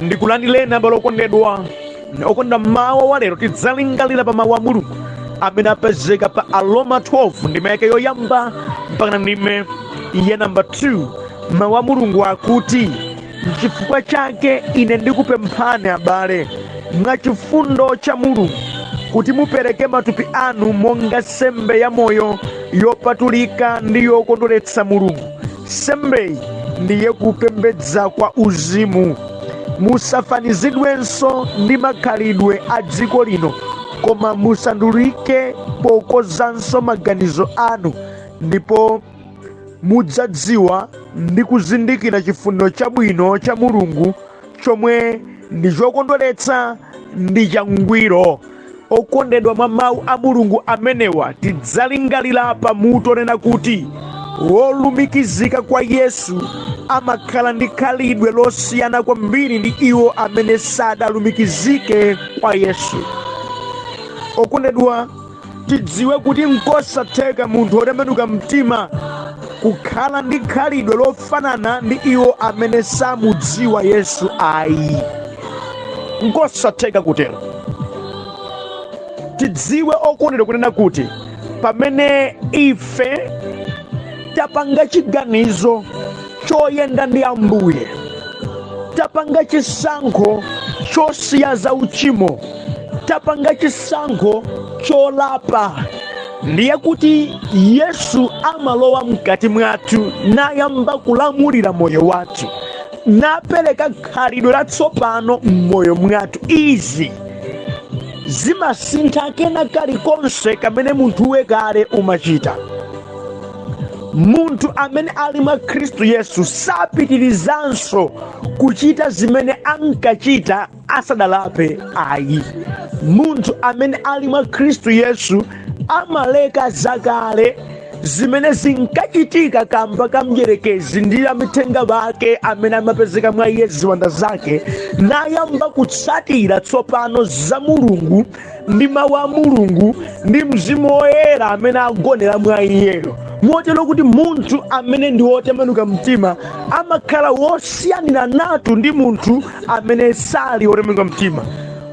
ndikulandileni abale okondedwa okondedwa mmawa wa lero tidzalingalira pa mawu a mulungu amene apezeka pa aroma 12 ndime yake yoyamba mpaka ndime ya namba 2 mawu a mulungu akuti Nchifukwa chake ine ndikupemphani, abale, mwa chifundo cha Mulungu, kuti mupereke matupi anu monga nsembe yamoyo, yopatulika ndi yokondweretsa Mulungu. Nsembeyi ndiye kupembedza kwa uzimu. Musafanizidwenso ndi makhalidwe a dziko lino, koma musandulike pokozanso maganizo anu, ndipo mudzadziwa ndi kuzindikira chifuniro chabwino cha mulungu chomwe ndi chokondweretsa ndi changwiro okondedwa mwa mawu a mulungu amenewa tidzalingalira pa mutu onena kuti wolumikizika kwa yesu amakhala ndi khalidwe losiyana kwambiri ndi iwo amene sadalumikizike kwa yesu okondedwa tidziwe kuti nkosatheka munthu wotembenuka mtima kukhala ndi khalidwe lofanana ndi iwo amene samudziwa yesu ayi nkosatheka kutero tidziwe okondedwa kunena kuti pamene ife tapanga chiganizo choyenda ndi ambuye tapanga chisankho chosiya za uchimo tapanga chisankho cholapa ndiye kuti yesu amalowa mkati mwathu nayamba kulamulira moyo wathu napereka khalidwe latsopano m'moyo mwathu izi zimasintha kena kalikonse kamene munthuwe kale umachita munthu amene ali mwa khristu yesu sapitirizanso kuchita zimene ankachita asadalape ayi munthu amene ali mwa khristu yesu amaleka zakale zimene zinkachitika kamba ka mdyerekezi ndi amithenga ake amene amapezeka mwa iye ziwanda zake nayamba kutsatira tsopano za mulungu ndi mawu a mulungu ndi mzimu woyera amene agonera mwa iyeyo motero kuti munthu amene ndi wotembenuka mtima amakhala wosiyaniranatu ndi munthu amene sali wotembenuka mtima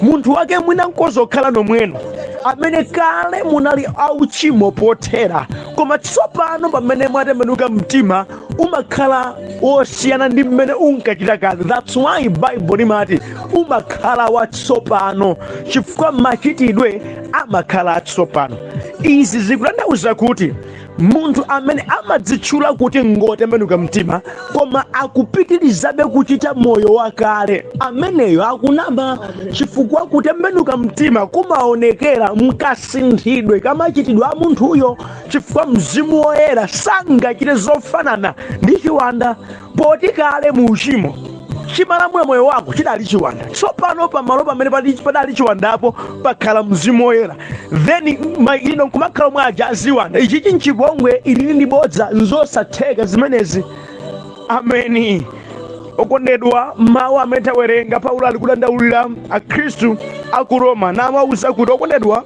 munthu wake mwina nkozokhala nomweno amene kale munali ochimwa pothera koma tsopano pamene mwatembenuka mtima umakhala wosiyana ndi mmene unkachita kale that's why bible limati umakhala watsopano chifukwa machitidwe amakhala atsopano izi zikutanthauza kuti munthu amene amadzitchula kuti ngotembenuka mtima koma akupitirizabe kuchita moyo wakale ameneyo akunama chifukwa kutembenuka mtima kumaonekera mkasinthidwe kamachitidwe a munthuyo chifukwa mzimu woyera sangachite zofanana ndi chiwanda poti kale mu uchimo chimalamula moyo wako chidali chiwanda tsopano pamalo pamene padi- padali chiwandapo pakhala mzimu woyera then iwe nkumakhala omwe aja aziwanda ichichi nchipongwe ili ndi bodza nzosatheka zimenezi ameni okondedwa mawu amene tawerenga paulo ali kudandaulira akhristu aku roma nawauza kuti okondedwa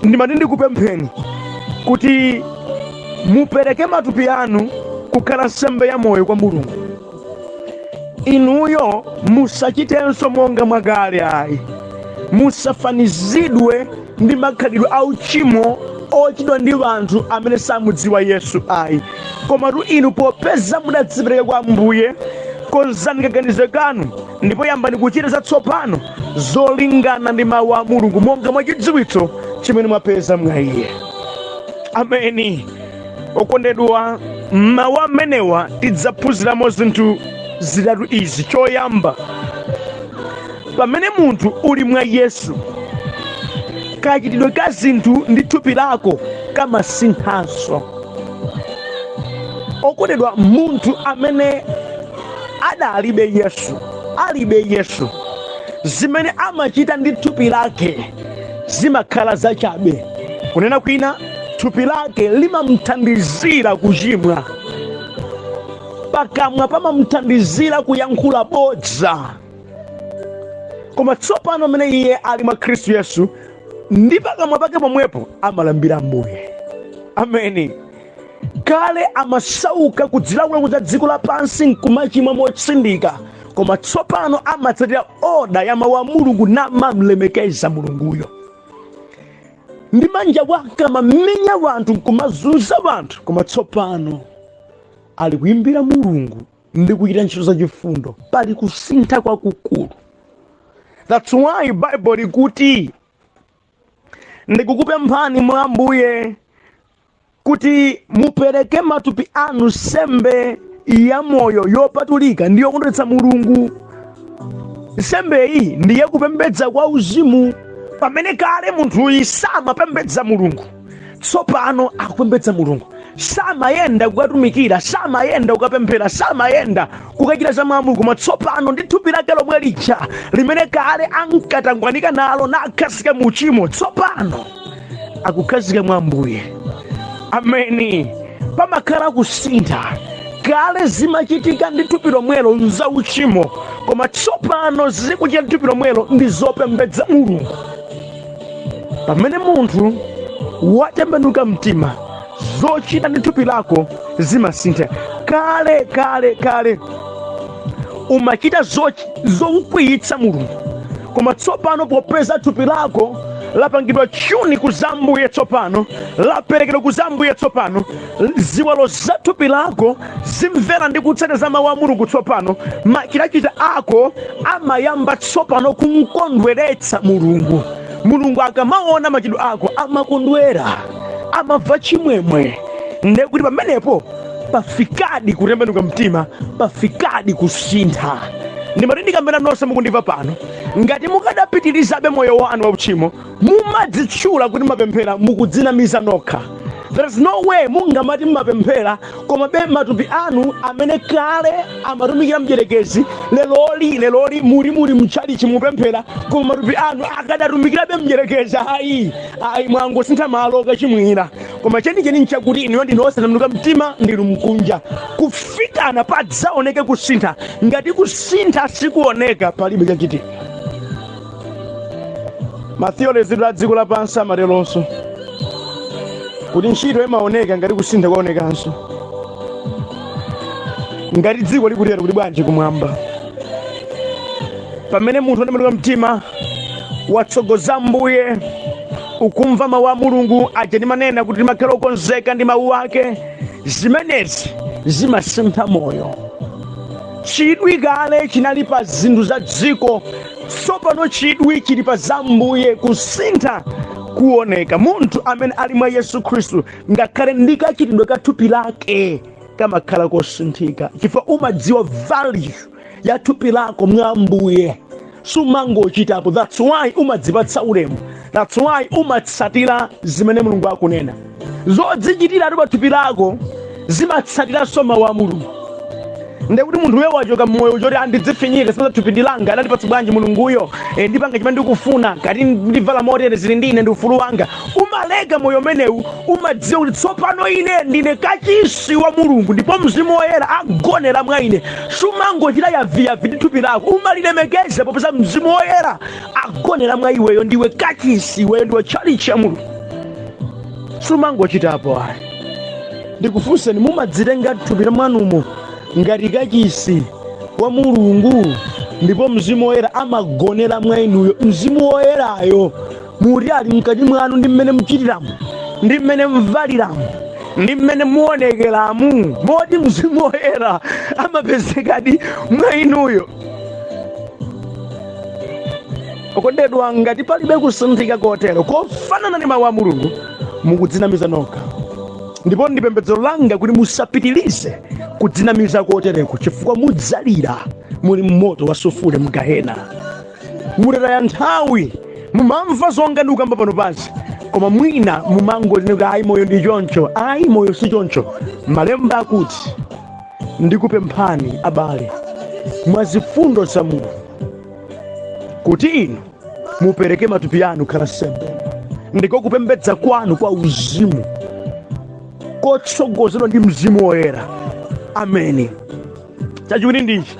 ndimati ndikupempheni kuti mupereke matupi anu kukhala nsembe ya moyo kwa mulungu inuyo musachitenso monga mwakale ayi musafanizidwe ndi makhalidwe a uchimo ochitidwa ndi anthu amene samudziwa yesu ayi komatu inu popeza mudadzipereka kwa ambuye konzani kaganizidwe kanu ndipo yambani kuchita zatsopano zolingana ndi mawu a mulungu monga mwa chidziwitso chimene mwapeza mwa iye ameni okondedwa mawu amenewa tidzaphunziramo zinthu zitatu izi choyamba pamene munthu uli mwa yesu kachitidwe ka zinthu ndi thupi lako kamasinthanso okondedwa munthu amene adalibe Yesu, alibe Yesu, zimene amachita ndi thupi lake zimakhala zachabe. Kunena kwina, thupi lake limamthandizira kuchimwa, pakamwa pamamthandizira kuyankhula bodza. Koma tsopano mmene iye ali mwa Khristu Yesu, ndi pakamwa pake pomwepo amalambira Ambuye. Ameni. kale amasauka kudzilowetsa ku za dziko lapansi nkumachimwa motsindika koma tsopano amatsatira oda ya mawu a mulungu namamlemekeza mulunguyo ndi manja ake amamenya wanthu nkumazunza wanthu koma tsopano ali kuyimbira mulungu ndi kuchita ntchito zachifundo pali kusintha kwakukulu that's why bible likuti ndikukupemphani mwa ambuye kuti mupereke matupi anu nsembe ya moyo yopatulika ndi yokondweretsa mulungu nsembe iyi ndiye kupembedza kwa uzimu pamene kale munthuyi samapembedza mulungu tsopano akupembedza mulungu samayenda kukatumikira samayenda kukapemphera samayenda kukachita za mwa mulungu koma tsopano ndi thupi lake lomwe lija limene kale ankatangwanika nalo nakhazika mu uchimo tsopano akukhazika mwa ambuye ameni pamakhala kusintha kale zimachitika ndi thupi lomwelo nza uchimo koma tsopano zikuchita ndi thupi lomwelo ndi zopembedza mulungu pamene munthu watembenuka mtima zochita ndi thupi lako zimasintha kale kale kale umachita zokwiyitsa mulungu koma tsopano popeza thupi lako lapangidwa chuni ku za ambuye tsopano laperekedwa ku za ambuye tsopano ziwalo za thupi lako zimvera ndi kutsata za mawu a mulungu tsopano machitachita ako amayamba tsopano kumkondweretsa mulungu mulungu akamaona machitidwe ako amakondwera amamva chimwemwe ndekuti pamenepo pafikadi kutembenuka mtima pafikadi kusintha ndimati ndikambera nonse mukundimva pano ngati mukadapitirizabe moyo wanu wauchimo mumadzitchula kuti mmapemphera mukudzinamiza nokha there is no way mungamati mmapemphera komabe matupi anu amene kale amatumikira mdyerekezi leloli leloli muli muli mtchalichi mupemphera koma matupi anu akadatumikirabe mdyerekezi ayi ayi mwangosintha malo kochimwira koma chenicheni nchakuti inuyo ndinu osatembenuka mtima ndinu mkunja kufikana padzaoneke kusintha ngati kusintha sikuoneka palibe chachitika ma theories a dziko lapansi amateronso kuti ntchito imaoneka ngati kusintha kwaonekanso ngati dziko likutero kuti bwanji kumwamba pamene munthu anatembenuka mtima watsogoza ambuye ukumva mawu a mulungu aja ndimanena kuti timakhala okonzeka ndi mawu ake zimenezi zimasintha moyo chidwi kale chinali pa zinthu za dziko tsopano chidwi chili pa za ambuye kusintha kuoneka munthu amene ali mwa yesu khristu ngakhale ndi kachitidwe ka thupi lake kamakhala kosinthika chifukwa umadziwa value ya thupi lako mwa ambuye sumangochitapo that's why umadzipatsa ulemu that's why umatsatira zimene mulungu akunena zodzichitira ati pa thupi lako zimatsatiranso mawu a mulungu ndekuti munthu uyo wachoka mmoyo choti andidzifinyike si paja thupi ndi langa anandipatsa bwanji mulunguyo e, ndipanga chimene ndikufuna kaya ndivala motere zili ndi ine ndi ufulu wanga umaleka moyo umenewu umadziwa kuti tsopano ine ndine kachisi wa mulungu ndipo mzimu woyera agonera mwa ine sumangochita yaviyavi ndi thupi lako umalilemekeza popeza mzimu woyera agonera mwa iweyo ndiwe kachisi iweyo ndiwe tchalichi ya mulungu sumangochitapo ayi ndikufunseni mumadzitenga thupi la mwanumo ngati kachisi wa mulungu ndipo mzimu woyera amagonera mwa inuyo mzimu woyerayo muti ali mkati mwanu ndi mmene muchitiramo ndi mmene muvaliramo ndi mmene muonekeramu moti mzimu woyera amapezekadi mwa inuyo okondedwa ngati palibe kusinthika kotero kofanana ndi mawu a mulungu mukudzinamiza nokha ndipo ndi pembedzero langa kuti musapitirize kudzinamiza kotereko chifukwa mudzalira muli mmoto wa sufule mgahena mutataya nthawi mumamva zonga ndikukamba pano pansi koma mwina mumangozinuta ayi moyo ndi choncho ayi moyo si choncho malemba akuti Ndikupemphani abale, mwa zifundo za Mulungu, kuti inu mupereke matupi anu akhale nsembe, ndiko kupembedza kwanu kwa uzimu kotsogozedwa ndi mzimu woyera. Ameni. Chachiwiri ndichi,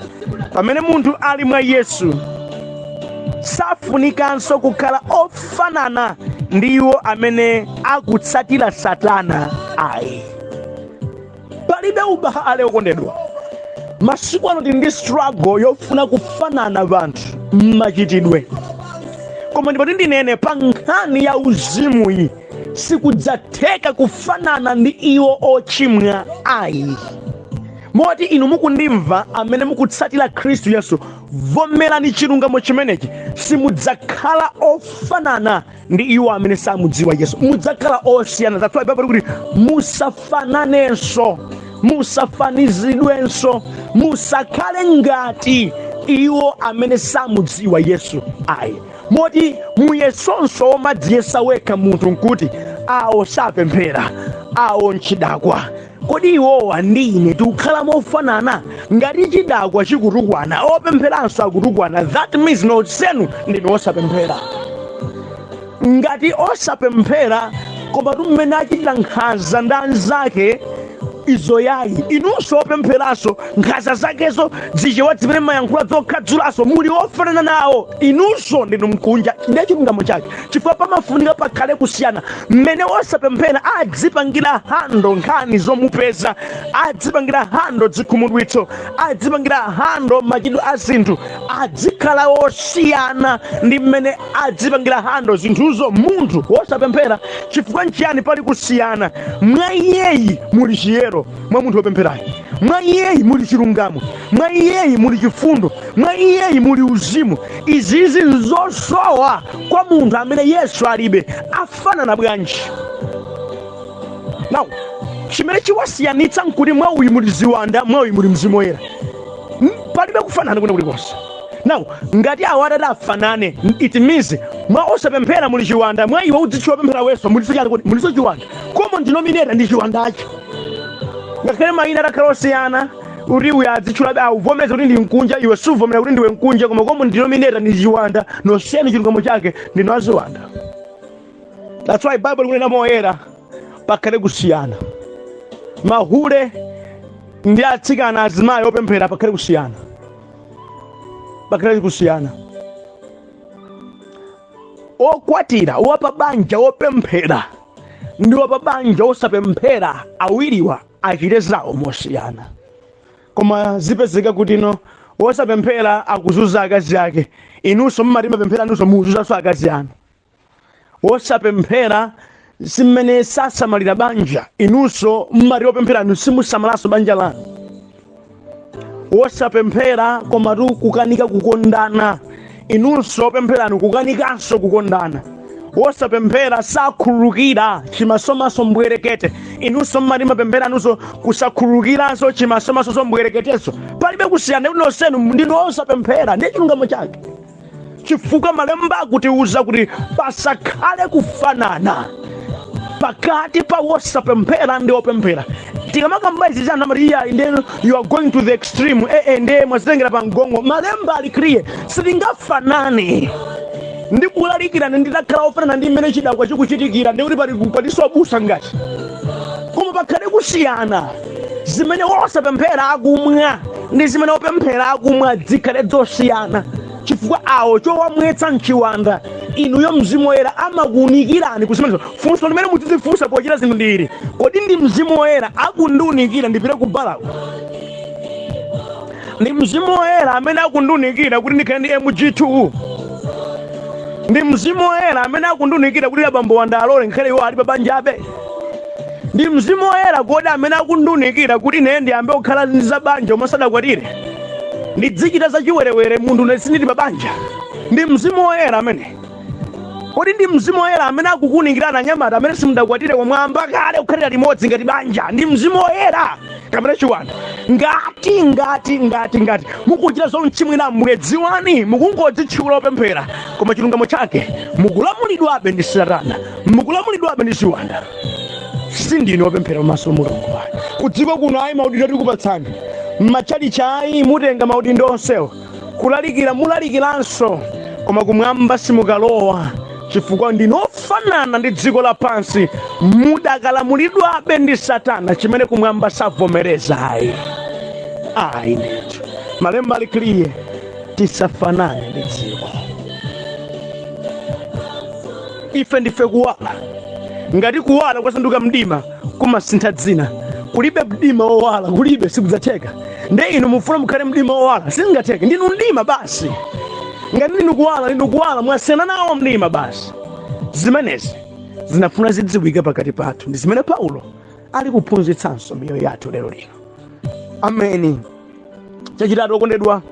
pamene munthu ali mwa Yesu safunikanso kukhala ofanana ndi iwo amene akutsatira Satana ayi. palibe ubale okondedwa masiku ano tili ndi struggle yofuna kufanana ndi anthu mmachitidwe koma ndipo ti ndinene pa nkhani ya uzimu iyi sikudzatheka kufanana ndi iwo ochimwa ayi moti inu mukundimva amene mukutsatira khristu yesu vomerani chilungamo chimenechi simudzakhala ofanana ndi iwo amene samudziwa yesu mudzakhala osiyana that's why bible ikuti musafananenso musafanizidwenso musakhale ngati iwo amene samudziwa yesu ayi moti muyeso nso womadziyesa wekha munthu nkuti awo sapemphera awo nchidakwa Kodi iwowa ndi ine tikukhala mofanana? Ngati chidakwa chikutukwana, opempheranso akutukwana, that means nonsenu ndinu osapemphera. Ngati osapemphera komatu mmene achitira nkhanza kwa anzake izo yayi inunso opempheranso nkhanza zakezo zichewa zimene mumayankhula zokhadzulanso muli ofanana nawo inunso ndinu mkunja ndiye chilungamo chake chifukwa pamafunika pakhale kusiyana mmene osapemphera adzipangira hando nkhani zomupeza adzipangira hando dzikhumudwitso adzipangira hando machitidwe a zinthu adzikhala osiyana ndi mmene adzipangira hando zinthuzo munthu wosapemphera chifukwa nchiyani pali kusiyana mwa iyeyi muli chiyero mwa munthu wopempherayi mwa iyeyi muli chilungamo mwa iyeyi muli chifundo mwa iyeyi muli uzimu izizi nzosowa kwa munthu amene yesu alibe afanana bwanji now chimene chiwasiyanitsa nkuti mwa uyu muli ziwanda mwa uyu muli mzimu woyera palibe kufanana kwina kulikonse now ngati awo atati afanane it means mwa osapemphera muli chiwanda mwa iwe udzitchula wopemphera iweso muliso chani kodi muliso chiwanda common denominator ndi chiwandacho ngakhale mayina atakhala osiyana kuti uyo adzitchulabe akuvomereza kuti ndi mkunja iwe suvomera kuti ndiwe mkunja koma common denominator ndi chiwanda nonsenu chilungamo chake ndinu aziwanda that's why bible likunena moyera pakhale kusiyana mahule ndi atsikana azimayi opemphera pakhale kusiyana pakhale kusiyana Okwatira, wapabanja wopemphera ndi wapabanja wosapemphera, awiriwa achite zawo mosiyana. Koma zipezeka kuti wosapemphera akuzunza akazi ake, inunso mumati mumapemphera inunso mukuzunzanso akazi anu. Wosapemphera si mmene sasamalira banja inunso mmati opempheranu simusamalanso banja lanu wosapemphera komatu kukanika kukondana inunso opempheranu kukanikanso kukondana wosapemphera sakhululukira chimasomaso mbwerekete inunso mmati mumapemphera inunso kusakhululukiranso chimasomaso mbwereketeso palibe kusiyana kuti nonsenu ndinu osapemphera ndi chilungamo chake chifukwa malemba akutiuza kuti pasakhale kufanana pakati pa wosapemphera ndi wopemphera tikamakamba izizi anthu amati iyayi nde you are going to the extreme eh, eh, nde mwazitengera pa mgongo malemba ali clear sitingafanane ndikulalikirani nditakhala ofanana ndi mmene chidakwa chikuchitikira ndi kuti pali paliso abusa ngati koma pakhale kusiyana zimene wosapemphera akumwa ndi zimene wopemphera akumwa zikhale zosiyana chifukwa awo chowamwetsa mchiwanda inuyo mzimu woyera amakuunikirani kuzimenezo funso limene muzidzifunsa pochita zinthu ndi ili kodi ndi mzimu woyera akundiunikira ndipite ku balako ndi mzimu woyera amene akundiunikira kuti ndikhale ndi mg2 ndi mzimu woyera amene akundiunikira kuti abambo wanga alole nkhale iwo ali pa banjabe Ndi Mzimu Woyera kodi amene akundiunikira kuti ine ndiyambe kukhala ngati banja pomwe sindidakwatire? Ndidzichita za chiwerewere munthune sindili pa banja? Ndi Mzimu Woyera amene kodi ndi Mzimu Woyera amene akukuunikirani anyamata amene simudakwatire koma mwayamba kale kukhalira limodzi ngati banja? Ndi Mzimu Woyera kapena chiwanda ngati ngati ngati ngati mukuchita zomchimwira ambuye dziwani mukungodzitchula opemphera koma chilungamo chake mukulamulidwabe ndi satana mukulamulidwabe ndi ziwanda sindinu opemphera pamaso pa mulungu ayi kudziko kuno ayi maudindo tikupatsani m'matchalichi ayi mutenga maudindo onsewo kulalikira mulalikiranso koma kumwamba simukalowa chifukwa ndinu ofanana ndi dziko lapansi mudakalamulidwabe ndi satana chimene kumwamba savomereza ayi ayi ndithu malemba ali clear tisafanane ndi dziko ife ndife kuwala ngati kuwala kwasanduka mdima kumasintha dzina kulibe mdima owala kulibe sikudzatheka nde inu mufuna mukhale mdima owala sizingatheke ndinu mdima basi ngati ndinu kuwala ndinu kuwala mwasiyana nawo mdima basi zimenezi zimafuna zidziwike pakati pathu ndi zimene paulo ali kuphunzitsanso miyoyo yathu lero lino ameni chachitatu okondedwa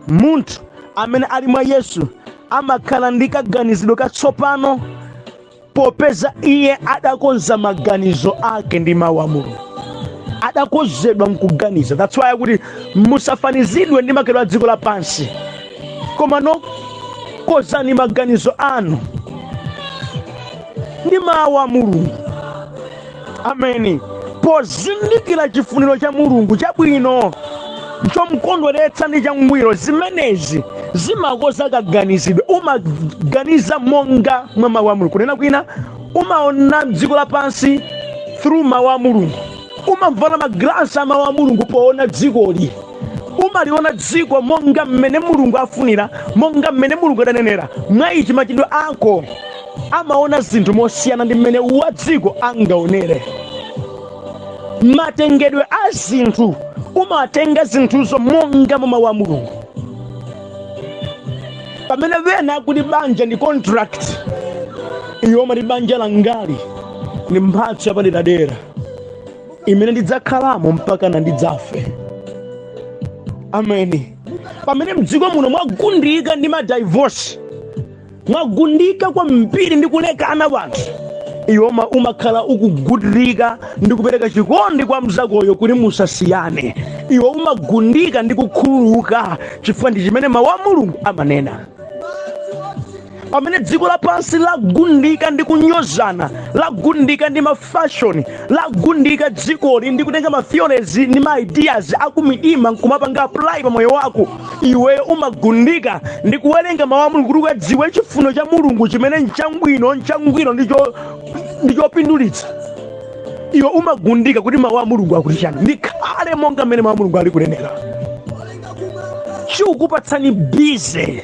munthu amene ali mwa yesu amakhala ndi kaganizidwe katsopano popeza iye adakonza maganizo ake ndi mawu a mulungu adakozedwa mkuganiza that's why akuti musafanizidwe ndi makhalidwe a dziko lapansi koma no kozani maganizo anu ndi mawu a mulungu ameni pozindikira chifuniro cha mulungu chabwino chomkondweretsa ndi changwiro zimenezi zimakoza kaganizidwe umaganiza monga mwa mawu a mulungu kunena kwina umaona dziko lapansi through mawu a mulungu umavala magalasi a mawu a mulungu poona dzikoli umaliona dziko monga mmene mulungu afunira monga mmene mulungu adanenera mwa ichi machitidwe ako amaona zinthu mosiyana ndi mmene wa dziko angaonere matengedwe a zinthu umatenga zinthuzo monga mwa mawu a mulungu pamene wena akuti banja ndi contract iwe umati banja langali ndi mphatso yapaderadera imene ndidzakhalamo mpaka ndidzafe ameni pamene mdziko muno mwagundika ndi madivorce mwagundika kwambiri ndi kulekana anthu iwe uma- umakhala ukugundika ndi kupereka chikondi kwa mzakoyo kuti musasiyane iwe umagundika ndi kukhululuka chifukwa ndi chimene mawu a mulungu amanena pamene dziko lapansi lagundika ndi kunyozana lagundika ndi mafashoni lagundika dzikoli ndi kutenga matheories ndi maideas akumidima nkumapanga apply pa moyo wako iweyo umagundika ndi kuwerenga mawu a mulungu kuti ukadziwe chifuno cha mulungu chimene nchangwino nchangwiro ndi cho- ndi chopindulitsa iwe umagundika kuti mawu a mulungu akuti chani ndikhale monga mmene mawu a mulungu ali kunenera chikukupatsani bize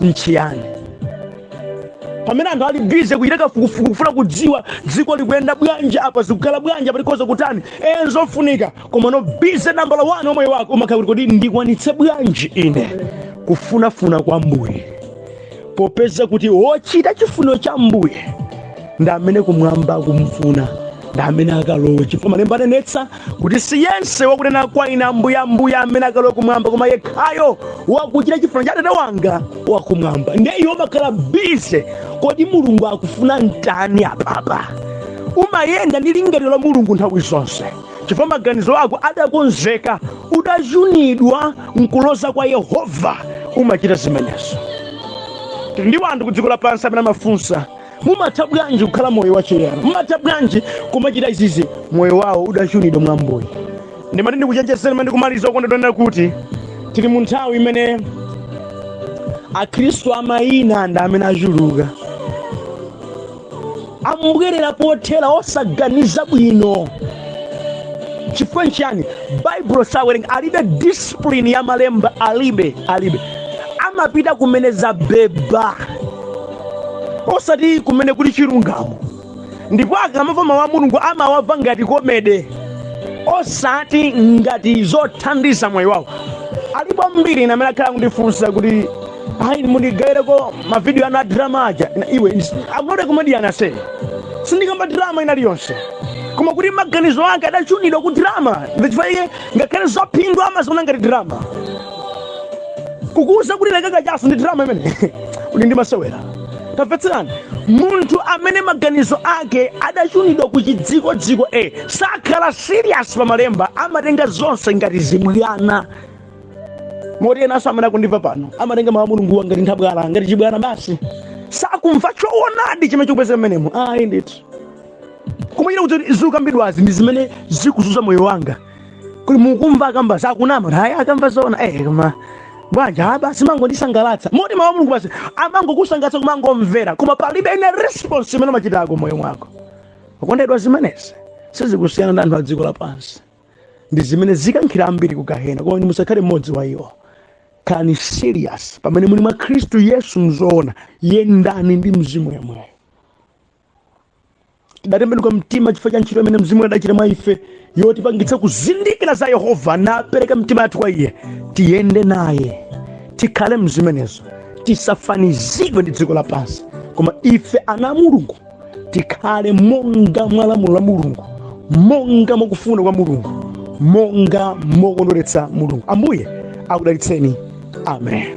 nchiyani pamene anthu ali bize kuchita kafukufuku kufuna kudziwa dziko likuyenda bwanji apa zikukhala bwanji apa likhoza kutani enzofunika komano bize nambala 1 wa moyo wako umakhala kuti kodi ndikwanitse bwanji ine kufunafuna kwa ambuye popeza kuti wochita chifuniro cha ambuye ndi amene kumwamba kumfuna ndi amene akalowe chifukwa malemba anenetsa kuti si yense wakunena kwa ine ambuye ambuye amene akalowe kumwamba koma yekhayo wakuchita chifuniro cha atate wanga wakumwamba ndiye iwe umakhala bize kodi mulungu akufuna nditani apapa umayenda ndi lingaliro la mulungu nthawi zonse chifukwa maganizo ako adakonzeka udachunidwa nkuloza kwa yehova umachita zimenezo tili ndi wanthu ku dziko lapansi amene amafunsa mumatha bwanji kukhala moyo wachiyero mumatha bwanji kumachita izizi moyo wawo udachunidwa mwambuli ndimati ndikuchenjezeni mmene ndikumaliza okondedwa nkunena kuti tili mu nthawi imene akhristu amayina ndi amene achuluka ambwerera pothera osaganiza bwino chifukwa nchiyani baibulo sawerenga alibe discipline ya malemba alibe alibe amapita kumene zabheba osati kumene kuli chilungamo ndipo akamamva mawu a mulungu amawamva ngati komede osati ngati zothandiza moyo wawo alipo ambiri amene akhala akundifunsa kuti hayi mundigaireko mavidiyo anu a drama aja Ina- iwe ins- I'm not a comedian ase sindikamba drama inali yonse koma kuti maganizo ake adachunidwa ku drama ndichifukwa iye ngakhale zaphindu amaziona ngati drama kukuuza kuti leka kachaso ndi drama imeneyo kuti ndi masewera tamvetserani munthu amene maganizo ake adachunidwa ku chidzikodziko e sakhala serious pa malemba amatenga zonse ngati zibwana moti enanso amene akundimva pano amatenga mawu a mulunguwa ngati nthabwala ngati chibwana basi sakumva choonadi chimene chikupezeka mmenemo ayi ndithu kumachita kuti zikukambidwazi ndi zimene zikuzunza moyo wanga kuti mukumva akamba sakunama kuti ayi akamba zoona eh koma bwanji ah basi mangondisangalatsa moti mawu a mulungu basi amangokusangalatsa kumangomvera koma palibe ine response imene umachitako mmoyo mwako okondedwa zimenezi sizikusiyana ndi anthu a dziko lapansi ndi zimene zikukankhira ambiri ku gahena koma musakhale mmodzi wa iwo khalani serious pamene muli mwa khristu yesu mzoona yendani ndi mzimu yemweyo tidatembenuka mtima chifukwa cha ntchito imene mzimu adachita mwa ife yotipangitsa kuzindikira za yehova napereka mtima yathu kwa iye tiyende naye tikhale mzimenezo tisafanizidwe ndi dziko lapansi koma ife ana a mulungu tikhale monga mwa lamulo la mulungu monga mwakufuna kwa mulungu monga mokondweretsa mulungu ambuye akudalitseni amen